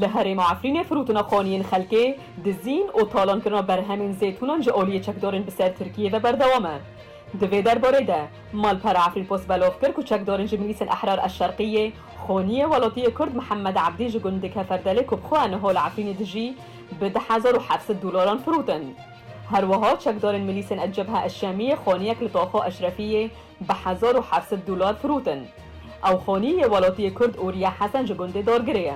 Li herêma Efrînê firotina qaniyên xelkê, dizîn û talankirina berhemên zeytûnan ji aliyê çekdarên bi ser Tirkiyeyê ve berdewam e. Di vê derbarê de malpera Efrînpost belov kir ku çekdarên ji milîsên Ehrar Eşşerqî yê qaniyê welatiyê Kurd Mihemed Ebdî ji gundê Keferdelê ku bi xwe niha li Efrînê dijî bi du hezar û heft sed dolaran firotin. Her wiha çekdarên milîsên El Cebha El Şamî yê qaniyek li Taxa Eşrefî yê bi hezar û heft sed dolar firotin. Ew xanî yê welatiyê Kurd û Riya Hesen ji gundê Dargirê ye.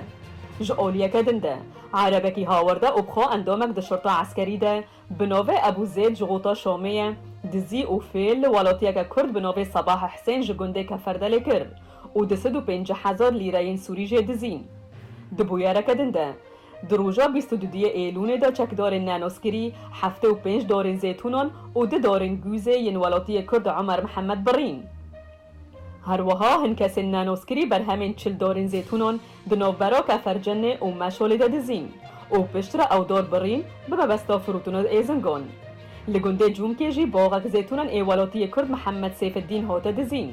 Ji aliyeke din de, erebekî hawerde opxa endamek di şurta eskerî de bi navê Ebû Zêd ji Gota Şamê ye, dizî û fêl li welatiyeke Kurd bi navê Sabah Husên ji gundê Keferdelê kir û di sid û pêncî hezar lîreyên sûrî jê dizî. Di bûyereke din de, Di roja bîst û duyê Êlûnê de çekdarên Nenoskirî heftê û pênc darên zêtûnan û du darên gûzê yên welatiyê Kurd Omer Mihemed birîn. Her wiha hin kesên Nenoskirî berhemên çil darên zêtûnan di navbera Kefercennê û Meşalê de dizîn û piştre ew dar birîn bi mebesta firûtina êzingan. Li gundê Cûmkê jî baxek zêtûnan ê welatiyê Kurd Mihemed Sêfiddîn hate dizîn.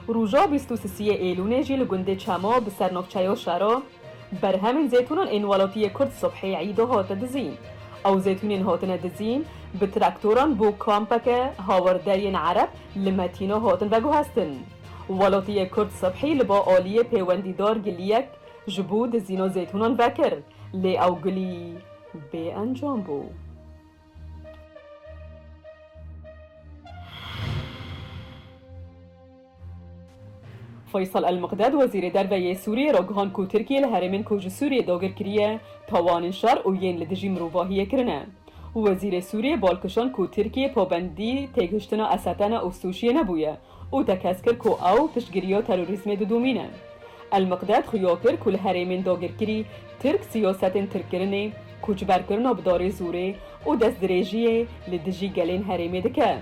Roja bîst û sisiyê Êlûnê jî li gundê Çema bi ser navçeya Şera, Berhemên zeytûnan ên welatiyê Kurd subhê îdo hate dizîn. Ew zeytûnên hatine dizîn bi traktoran bo kampeke hawerderiyên Ereb li Metîna hatin veguhestin. Welatiyê Kurd subhê li ba aliyê pêwendîdar giliyek ji bo dizîna zeytûnan vekir lê ew gilî bê encam bû. Feysal El-Miqdad wezîrê derve yê Sûriyê re gihand ku Tirkiye li herêmên ku ji Sûriyê dagir kiriye tawan in şer û yên li dijî mirovahiyê kirine. Wezîrê Sûriyê bal kişand ku Tirkiye pabendî têgihiştina Esetena û Sûciyê nebûye û tekez kir ku ew piştgiriya terorîzmê didomîne. El-Miqdad xuya kir ku li herêmên dagirkirî Tirk siyasetên tirkkirinê, koçberkirina bi darê zorê û destdirêjiyê li dijî gelên herêmê dike.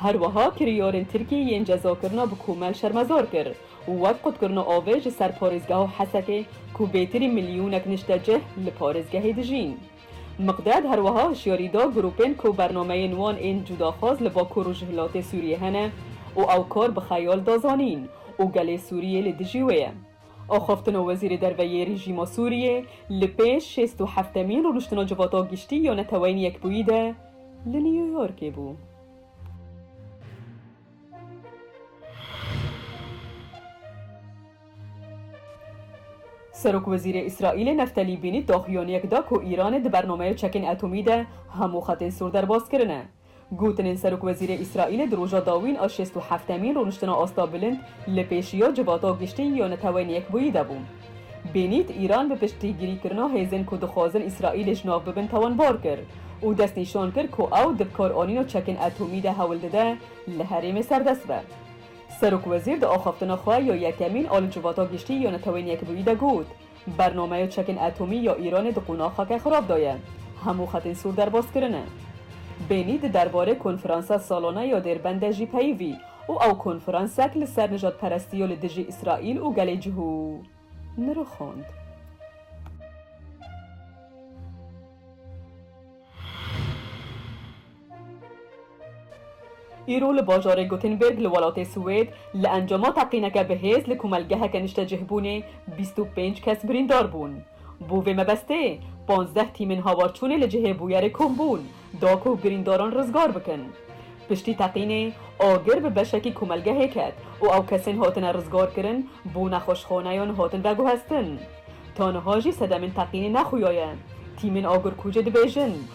Her wiha kirîyarên Tirkî yên cezakirina bi komel şermezar kir û wek qutkirina avê ji ser parêzgeha Hesekê ku bêtirî milyonek niştecih li parêzgehê dijîn. Miqded her wiha hişyarî da grûpên ku bernameyên wan ên cudaxwaz li Bakur Rojhilatê Sûriyê hene û ew kar bi xeyal da zanîn û gelê Sûriyê li dijî wê ye. Axaftina Wezîrê Derve yê Rejîma Sûriyê li pêş şêst û heftemîn Rûniştina Civata Giştî ya Neteweyên Yekbûyî de li New Yorkê bû. Serokwezîrê Îsraîlê Neftelî Bînît daxuyaniyek da ku Îranê di bernameya çekên etomî de hemû xetên sor derbas kirine. Gotinên Serokwezîrê Îsraîlê di roja dawîn a şêst û heftemîn rûniştina asta bilind li pêşiya civata giştî ya Neteweyên Yekbûyî de bû. Bênît Îran bi piştgirîkirina hêzên ku dixwazin Îsraîlê ji nav bibin tawanbar kir û destnîşan kir ku ew di bikaranîna çekên etomî de hewl dide li herêmê serdest be. Serokwezîr di axaftina xwe ya yekemîn a li civata giştî ya Neteweyên Yekbûyî de got, Bernameya çekên etomî ya Îranê di qonaxa ke xirab de ye. Hemû xetên sor derbas kirine. Bênî di derbarê konferansa salane ya Dêrbend de jî peyivî û ew konferansek li ser nijadperestiya li dijî Îsraîl û gelê cihû nirixand. Îro li bajarê Gothenburg li welatê Swêd li encama teqîneke bi hêz li komelgeheke niştecihbûnê bîst û pênc kes birîndar bûn. Bo vê mebestê panzdeh tîmên hawarçûnê li cihê bûyerê kom bûn da ku birîndaran rizgar bikin. Piştî teqînê agir bi beşekî komelgehê ket û ew kesên hatine rizgarkirin bo nexweşxaneyan hatin veguhestin. Ta niha jî sedemên teqînê nexuyaye. Tîmên agirkujê dibêjin